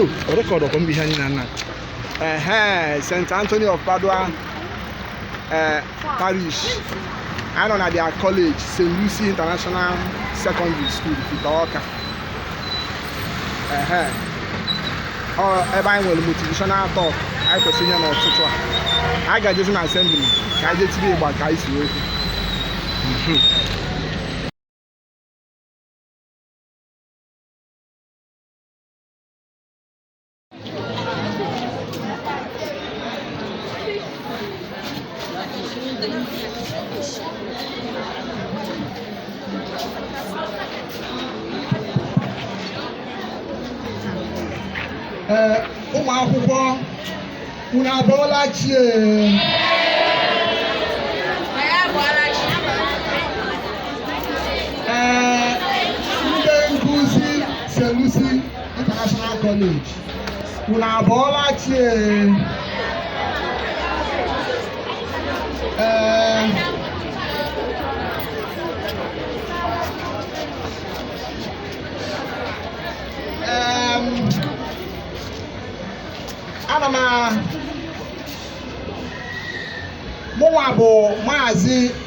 o rekọdụ ọkwa mgbe ihe anyị nọ na ehe st anthony of padua ee parish anyị nọ na their college st lucy international secondary school ifite ọka ehe ọ ebe anyị nwere motivational talk anyị kwesịrị inye n'ụtụtụ a anyị ga-ejezi na assembly ka anyị jetiri ịgba ka anyị si okwu ee ụmụ akwụkwọ unu abụọla chi ee ndị nkụzi st lucy International College unu abụọla chi ee Ee, em, ana m a- mụnwa bụ maazị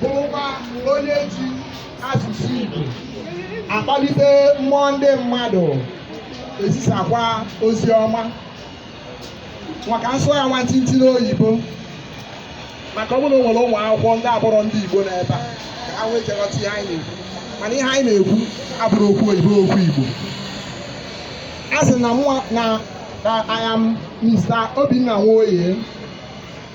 bụrụkwa onye ji asụsụ Igbo akpalite mmụọ ndị mmadụ ezisakwa ozi ọma ma ka m sụọ ya nwantịntị n'oyibo maka ọ bụrụ na o nwere ụmụ akwụkwọ ndị abụrọ ndị Igbo n'ebe a ka ha nwee ike ghọta ihe anyị na-ekwu mana ihe anyị na-ekwu abụrọ okwu oyibo okwu Igbo a sị na na I am Mr. Obinna Nwoye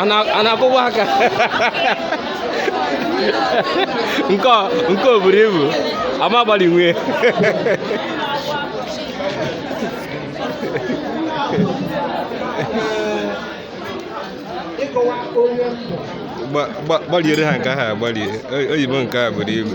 a na-akụwa aka nke o buru ibu ama abalị nwee gbaliere ha nke ahụ agbalie oyibo nke a buru ibu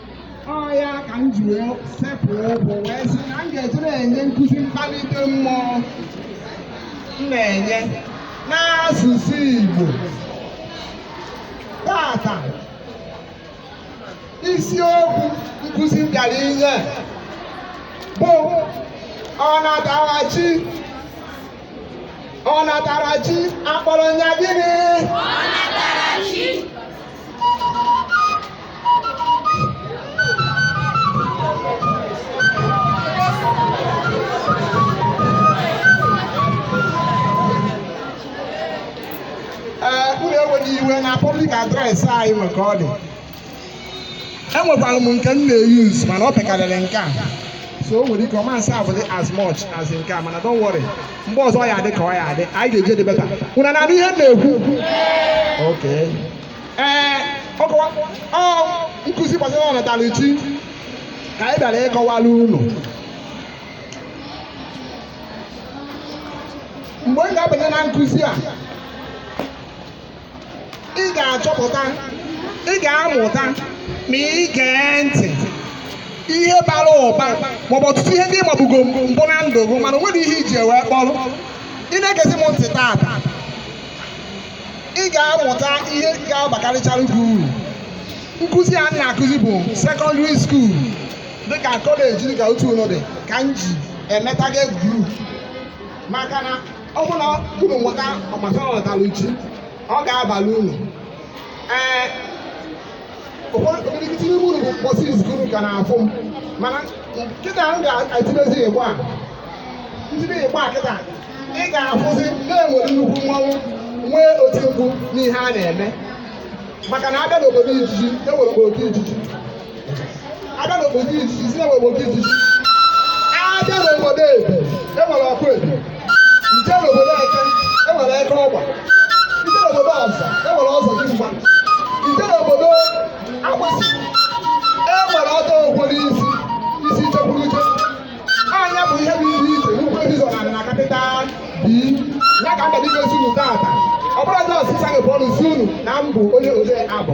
ọ ya ka m ji wee sepụ ụkwụ wee sị na m ga-eji na-enye nkụzi mkpalite mmụọ m na-enye n'asụsụ Igbo tata isiokwu nkụzi m bịara inye bụ ọnatarachi ọnatarachi akpọrọ m ya gịnị iwe na public address anyị nwe ka ọ dị enwekwara m nke m na-eyuz mana ọ pekarịrị nke a so o nwere ike ọ ma sound as much as nke a mana don't worry mgbe ọzọ ya adị ka ọ ya adị anyị ga-adị better unu na-anụ ihe m na-ekwu okay ee nkụzi gbasara ọnatarachi ka anyị bịara ịkọwara unu mgbe ị ga-abanye na nkụzi a ị ga-achọpụta ị ga-amụta ma ị gee ntị ihe bara ụba maọbụ ọtụtụ ihe ndị ịmabugo mbụ na ndụ gị mana o nwere ihe iji wee kpọrọ ị na-egezi m ntị taata ị ga-amụta ihe ga-abakarịchara gị uru nkụzi a m na-akụzi bụ secondary school dịka kọleji dịka otu unu dị ka m ji eme target group maka na ọ bụrụ na unu nweta gbasara ọnatarachi ọ ga-abalị unu ee ụfọdụ okirikiti n'ime unu bụ mbọsị izizi unu ka na-afụ m mana kịta m ga-etinyezi igbo a m tinye igbo a kịta ị ga-afụzi na e nwere nnukwu mmanwụ nwee oti mkpu n'ihe a na-eme maka na abịa n'obodo ijiji e nwere obodo ijiji abịa n'obodo isi isi enwe obodo isi abịa n'obodo ebe enwere ọkụ ebe i jee n'obodo eke enwere eke ọgba i jee n'obodo ọzọ enwere ọzọdịmgba i jee n'obodo agbịsị enwere ọdọ ụgwọ n'isi isi chekwuru uche anya bụ ihe bụ ihe iche n'ugwu ebizo na na capital b ya ka mba dịka esi unu taata ọ bụrụ na ọsịsa gị bụ ọnụ si unu na m bụ onye ode abụ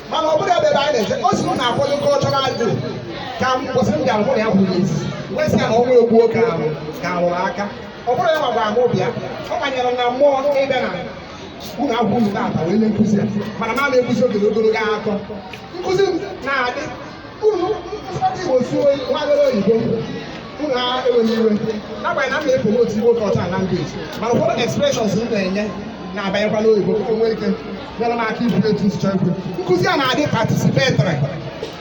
mana ọ bụrụ ebe ebe anyị na-eje o si unu na-akwado cultural day ka mbọsị m bịara mụ na ya kwuru ezi wee sị ya na ọnwa egbuo ka ahụ ka ahụrụ aka ọ bụrụ ya ma gwa m bịa ọ banyere na mmụọ ịbịa na ụlọ akwụkwọ unu taa wee nye nkụzi a mana m na-ekwuzi oge ogologo akọ nkụzi m na-adị unu ụfọdụ igbo suo nwagoro oyibo unu ewela iwe n'agbanyeghị na m na-epromote igbo culture and language mana ụfọdụ expressions m na-enye na-abanyekwa n'oyibo o nwee ike nyere m aka ikwu etu m si chọọ ikwu nkụzi a na-adị participatory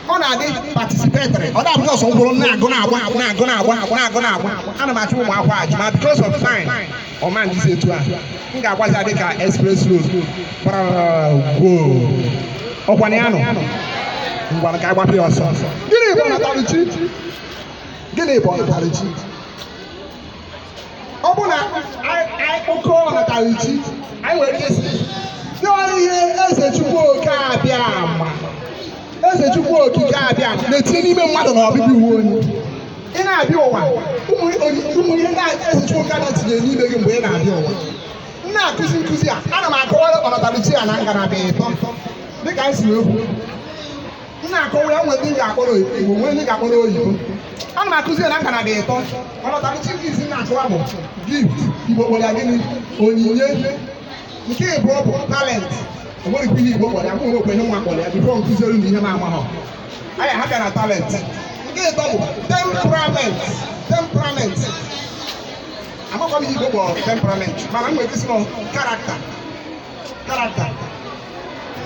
ọ na-adị participatory ọ na-abụghị sọsọ m kwụrụ na-agụ na-agba na-agụ na-agba na-agụ na-agba ana m ajụ ụmụ akwụkwọ ajụjụ ma because of time ọ ma adịzi etu a m ga-agbazi ya dịka express road gbara gwoo ọkwa na ya nọ ngwa ka agbapụ ya ọsọ gịnị bụ ọnatarachi gịnị bụ ọnatarachi ọ bụ na anyị kpọkọọ ọnatarachi anyị nwere ike ịsị na ọ bụ ihe eze chukwu oke abịama eze chukwu okike abịama na-etinye n'ime mmadụ na ọbịbịa ụwa onye ị na-abịa ụwa ụmụ ihe na-aga eze chukwu oke na-etinye n'ime gị mgbe ị na-abịa ụwa m na-akụzi nkụzi a ana m akọwara ọnatarachi a na ngalaba ịtọ dịka anyị si ekwu m na-akọwa ya nwere ndị m ga-akpọrọ igbo nwee ndị ga-akpọrọ oyibo ana m akụzi ya na ngalaba ịtọ ọnatarachi nke isi m na-akọwa bụ gift igbo kpọrọ ya gịnị onyinye nke ịbụọ bụ talent o nwere ike ihe igbo kpọrọ ya mụ onwe kwenye nwa kpọrọ ya before nkụziere na ihe m amaghọ aya ha bịa na talent nke ịtọ bụ temperament temperament amakwa m ihe igbo kpọrọ temperament mana m nwere ike ịsị na ọ character character.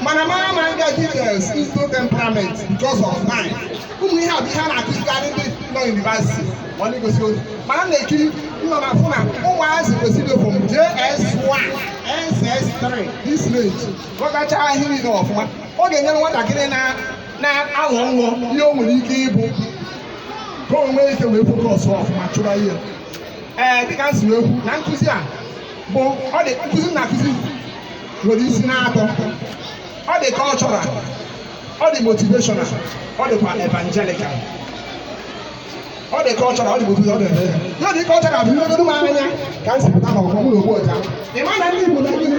Mana mara ma nga details into temperament because of time. Ụmụ ihe a bụ ihe a na-akụzikarị ndị nọ university ma ndị gosi ozi. Mana m na-ekiri nọ na fụ na ụmụazị kwesịrị from JS1, SS3, this range. Ghọtachaa ihe niile ọfụma. Ọ ga-enyere nwatakịrị na-ahọ nhọ ihe o nwere ike ịbụ ka o nwee ike wee focus ọfụma chụba ihe ee dịka m si wee kwu na nkụzi a bụ ụdị nkụzi na-akụzi nwere isi na-atọ ọ dị cultural ọ dị motivational ọ dịkwa evangelical ọ dị cultural ọ dị motivational ọ dị evangelical ịdị cultural bụ ihe dogo m anya ka m si pụta n'ọgbọ m n'ogbu ọcha ị ma na ndị Igbo na gịnị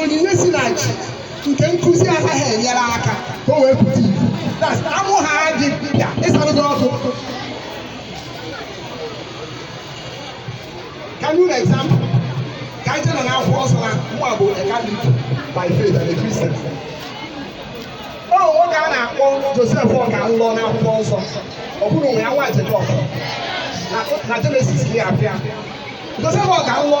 onyinye si na chi nke nkụzi anaghị enyere aka ka o wee pụta ife That's- amụ ha gị bịa ịsara gị ọkụ Ka m nye unu example. Ka anyị jena n'akwụkwọ nsọ na mụ a bụ a Catholic by faith and a Christian. O nwoke a na-akpọ Joseph Ọka nlọ n'akwụkwọ nsọ ọ bụrụ nwe ya nwa Jekọb na- na Jenesis ka ya abịa. Joseph Ọka nlọ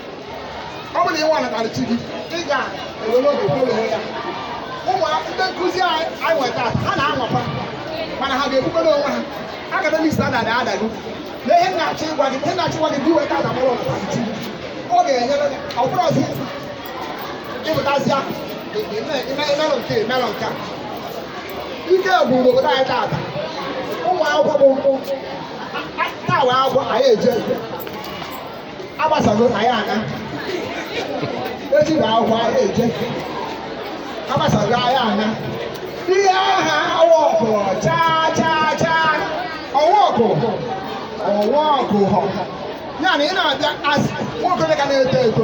ọ bụrụ na ị nwee ọnatarachi gị ị ga-ewere oge kpọrọ ya ụmụ ndị nkụzi anyị nwere taa ha na-anwaka mana ha ga-ekwukọrọ onwe ha academic standard adago na ihe na-achọ ịgwa gị ihe na-achọ ịgwa gị bụ iweta adamụrụ ọnatarachi ọ ga-enyere gị ọ bụrụ ọzi ịpụtazịa imelụ nke imelụ nke a ike bụ obodo anyị taata ụmụ akwụkwọ bụ nkwụ tawa akwụkwọ anyị eje agbasago na ya ana echi bụ akwụkwọ anyị eje agbasago ya ana ihe aha awa ọkụ chaa chaa chaa ọwa ọkụ ọwa ọkụ họ ya na ị na-abịa as nwoke ka na-eto eto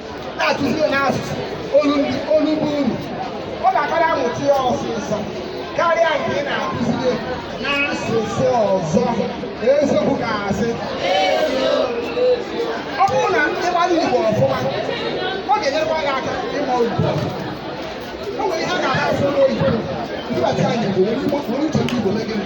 na-akụziri n'asụsụ olu bụ uru ọ ga-akara amụta ya ọsịsọ karịa nke ị na-akụziri n'asụsụ ọzọ eziokwu ga-asị ọ bụrụ na ị mara igbo ọfụma ọ ga-enyekwa gị aka ịma oyibo o nwere ihe a ga-asụ n'oyibo ndị bata ya n'igbo were uche ndị igbo mee gịnị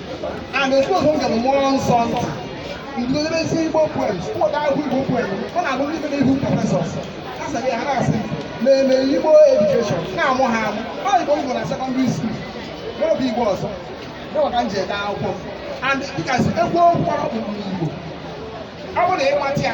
and expose m gara mmụọ nsọ ntị ndị debezi igbo poems ụfọdụ ahụ igbo poem ọ na-abụ ndị mere ihu professors a sị ya ha na-asị na-eme igbo education na-amụ ha amụ ọ igbo igbo na secondary school n'oge igbo ọzọ n'ụwa ka m ji ede akwụkwọ m and dịka si egwu okwu ọkpụkpụ n'igbo ọ bụrụ na ịmata ya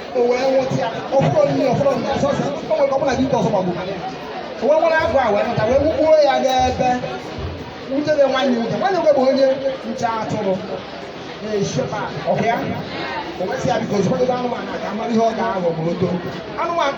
o wee nwụta ya ọ bụrụ onye ọ bụrụ na sọsọ o nwere ọbụla gị ọzọ maọbụ mara ya o wee were agụ a wee nụta wee wụgbuo ya n'ebe nwutere nwanne nwoke nwanne nwoke bụ onye nche atụrụ na-echekwa ọkụ ya o wee sị ya biko zụkwadebe anụmanụ a ka a mara ihe ọ ga-aghọ ma o too anụmanụ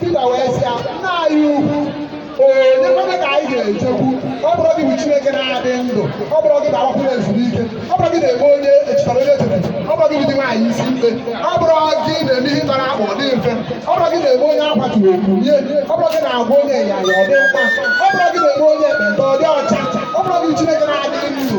Pita wee sị ya, nna anyị ukwu, onye ka anyị ga-ejekwu? Ọ bụrọ gị bụ Chineke na-adị ndụ, ọ bụrọ gị a ga-agbakwuru ezuru ike, ọ bụrọ gị na-eme onye echitara onye echete, ọ bụrọ gị bụ di nwaanyị isi mkpe, ọ bụrọ gị na-eme ihe tara akpụ ọ dị mfe, ọ bụrọ gị na-eme onye akwaturu o kunie, ọ bụrọ gị na-agwa onye ịnyanya ọ dị mkpa, ọ bụrọ gị na-eme onye ekpenta ọ dị ọcha, ọ bụrọ gị bụ Chineke na-adị ndụ.